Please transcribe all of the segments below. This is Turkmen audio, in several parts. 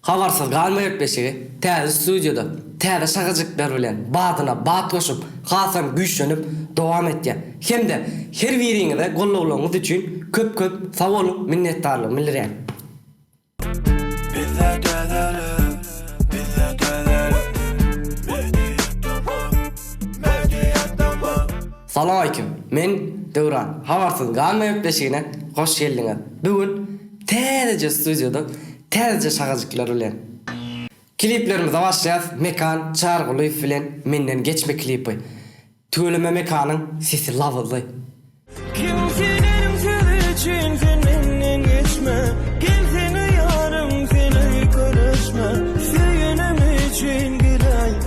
Habarsyz galma gepleşigi täze studiýada täze şagajyklar bilen badyna bat goşup hasam güýçlenip dowam etýär. Hemde her biriňize gollawlaryňyz üçin köp köp sag boluň minnetdarlygymy bildirýän. Bizde täzelik bizde täzelik Media Tamam Media Tamam. Salamaýkim. Men Döwran. Habarsyz galma gepleşigine hoş geldiňiz. Bu gün täzeje studiýada täzeje şahajyklar bilen. Kliplerimize başlaýas Mekan Çarygulyýew bilen Menden geçme klipi. Tüweleme Mekanyň sesi labyzly. Kim senem söz üçin sen menden geçme Gelsene ýarym sen öýke düşme Söýenim üçin gidäý.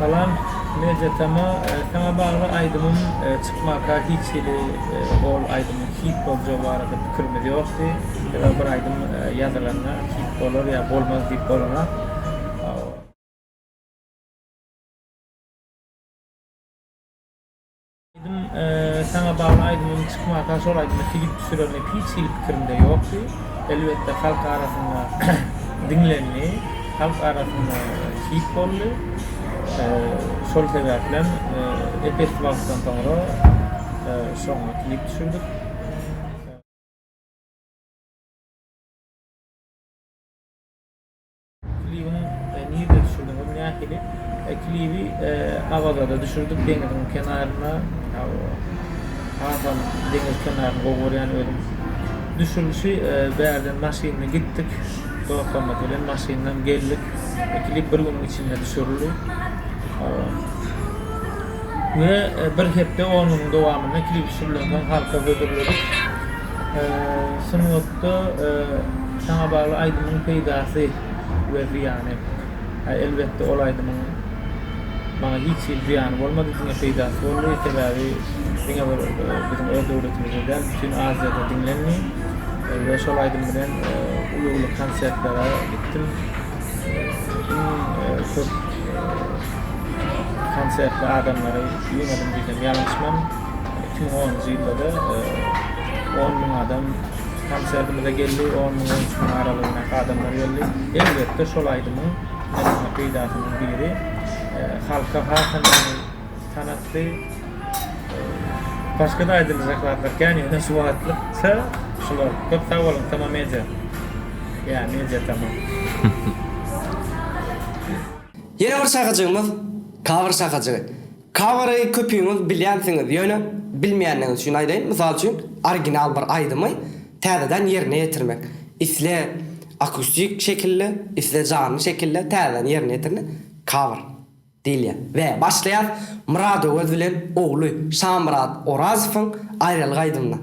Salam Media Tama saňa bagly aýdymym çykmaka hiç hili ol aýdymyň hit boljagy barada pikirimiz ýokdy sebäbi bir aýdym ýazylanda hit bolar ýa bolmaz diýip bolanok. Aýdym saňa bagly aýdymym çykmaka şol aýdymy klip düşürerlik hiç hili pikirimde ýokdy. Elbetde halk arasynda diňlendi, halk arasynda hit boldy. Şol sebäplem epesli wagtdan soňra şoňa klip düşürdik. Klibiň nirede düşürdiňiz nähili? Klibi Awazada düşürdik deňiziň kenarynda. Hasam deňiz kenaryny gowy görýän özüm. Düşürlişi bärden maşynda gitdik. Dostlarymyz bilen maşyndan geldik. Klip bir günüň içinde düşürildi. Ve bir hepde onuň dowamynda klip düşürilensoň halka hödürledik. Sungatda saňa bagly aýdymyň peýdasy we zyýany. Elbetde ol aýdymyň maňa hiç hili zyýany bolmady, diňe peýdasy boldy. Sebäbi diňe bir biziň öz döwletimizde däl, bütin Aziýada diňlendi we şol aýdym bilen uly-uly konsertlere gitdim. Iň köp konsertli adamlary ýygnadym diýsem ýalňyşmam. Iki müň onunjy ýylda-da on müň adam konserdimize geldi, on müň, on üç müň aralygyndaky adamlar geldi. Elbetde, şol aýdymyň ynha peýdasynyň biri halka has hem tanatdy. Başga-da aýdyljak zatlar kän, ýöne şu wagtlykça şular. Köp sag boluň, Tama Media. Ýa, Media Tama. Ýene bir şahajygymyz, Kabr şahajygy. Koweri köpüňiz bilýänsiňiz, ýöne bilmeýänleriňiz üçin aýdaýyn, mysal üçin, original bir aýdymy täzeden ýerine ýetirmek, isle akustik şekilde, isle janly şekilde täzeden ýerine ýetirine cover diýilýär. We başlaýarys Myrat Öwez bilen ogly Şamyrat Orazowyň Aýralyk aýdymyndan.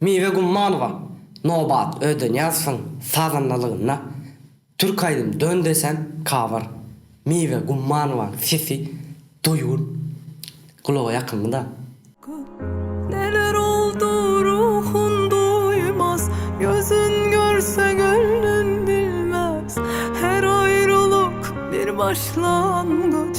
Miwe Gummanowa Nobat Ödenýazowyň sazandalygynda türk aýdym Dön desem cover. Miwe Gummanowaň sesi duýgur, gulaga ýakymly-da. Köp neler oldu ruhun duýmaz, Gözün görse göwnün bilmez. Her aýralyk bir başlangyç.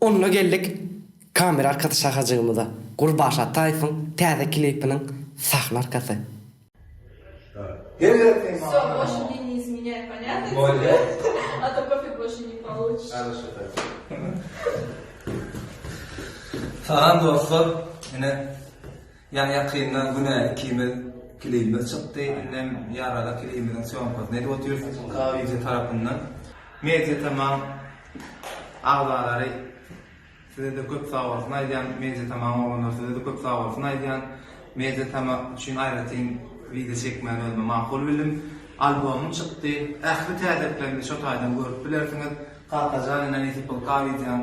Onda geldik kamera arkasy şahajygymyza, Gurbaş Ataýewiň täze klipiniň sahna arkasy. Salam dostlar! Ine. Ýaňy ýakynda günä ikimiz klibimiz çykdy, indem ýarada klibimiziň sýomkasyny edip otyrys K-video tarapyndan. Media tamam agzalary sizede köp sagbolsun aýdýan, media tamam oglanlar sizede köp sagbolsun aýdýan, media tama üçin aýratyn video çekmäni özüme makul bildim. Albomym çykdy, ähli täzeliklerimi şo taýdan görüp bilersiňiz. Kakajan ine nesip bol K-videoň.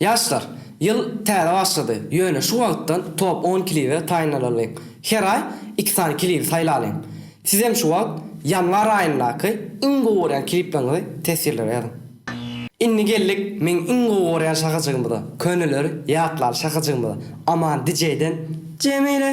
Ýaşlar, ýyl täze başlady, ýöne şu wagtdan top on klibe taýynlanalyň. Her aý iki sany klibi saýlalyň. Sizem şu wagt ýanwar aýyndaky iň gowy görýän klipleriňizi teswirlere ýazyň. Indi geldik meň iň gowy görýän şahajygymyza, köneleri ýatlaly şahajygymyza, Aman DJ-den Jemile!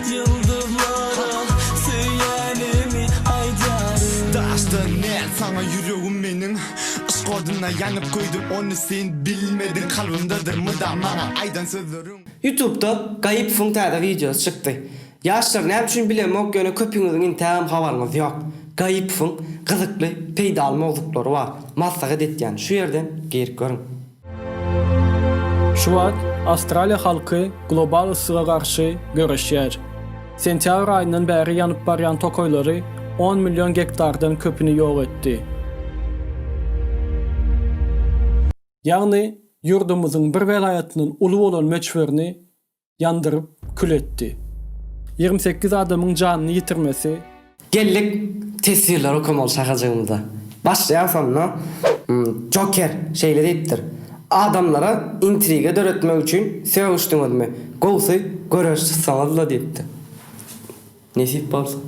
Ýyldyzlara söýýänimi aýdaryn. Daşdan näz saňa ýüregim meniň Yşk oduna ýanyp köýdüm ony sen bilmediň Kalbymdadyr mydam maňa aýdan sözleriň. Youtubda Gaýypowyň täze wideosy çykdy. Ýaşlar näme üçin bilemok ýöne köpüňiziň intägem habaryňyz ýok. Gaýypowyň gyzykly, peýdaly mowzuklary bar. Maslahat etýän şu ýerden girip görüň. Şu wagt Awstraliýa halky global yssyga garşy göreşýär. Sentýabr aýyndan bäri ýanyp barýan tokaýlary on million gektardan köpüni ýok etdi. Ýagny ýurdumyzyň bir welaýatyndan uly bolan möçberini ýandyryp kül etdi. Ýigrimi sekiz adamyň janyny ýitirmesi. Geldik teswirleri okamaly şahajygymyza. Başlaýar şonda Joker şeýle diýipdir, Adamlara intriga döretmek üçin sögüşdiňizmi, gowusy göreş çyksaňyzla diýipdir. Nesip bolsa.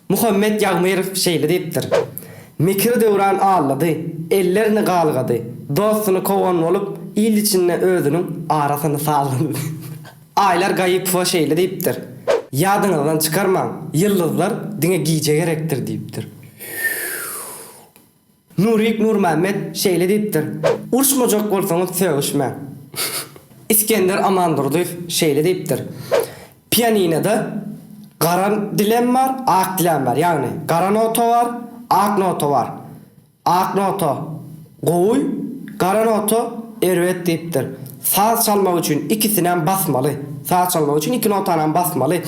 Muhammet Ýagmyrow şeýle diýipdir, Mekir döwran aldady, ellerini galgady, dostuny kowan bolup, il içinde özüniň arasyny salgylady. Aýlar Gaýypowa şeýle diýipdir, Ýadyňyzdan çykarmaň, ýyldyzlar diňe gije gerekdir diýipdir. Nurik Nurmämmet şeýle diýipdir, Urşmajak bolsaňyz sögüşmäň. Isgender Amandurdyýew şeýle diýipdir, Pianinada gara dilem bar, ak dilem bar, ýagny gara nota bar, ak nota bar. Ak nota gowy, gara nota erbet diýipdir. Saz çalmak üçin ikisinäm basmaly. Saz çalmak üçin iki notanam basmaly.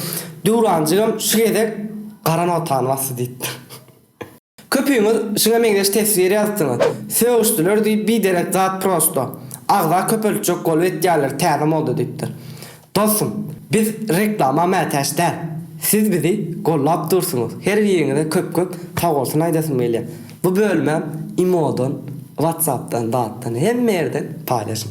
Döwranjygam şu gezek gara notany basdy diýipdir. Köpüňiz şuňa meňzeş teswir ýazypsyňyz. Sögüşdiler diýip biderek zat prosto. Agza köpeltjek bolup etýärler täze moda diýipdir. Dostum biz reklama mätäç däl. Siz bizi gollap dursuňyz her biriňize köp köp sagbolsun aýdasym gelýär. Bu bölümem imodan, whatsappdan zatdan hemme ýerden paýlaşyň.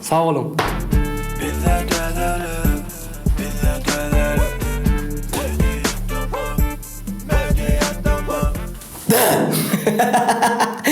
Sag boluň.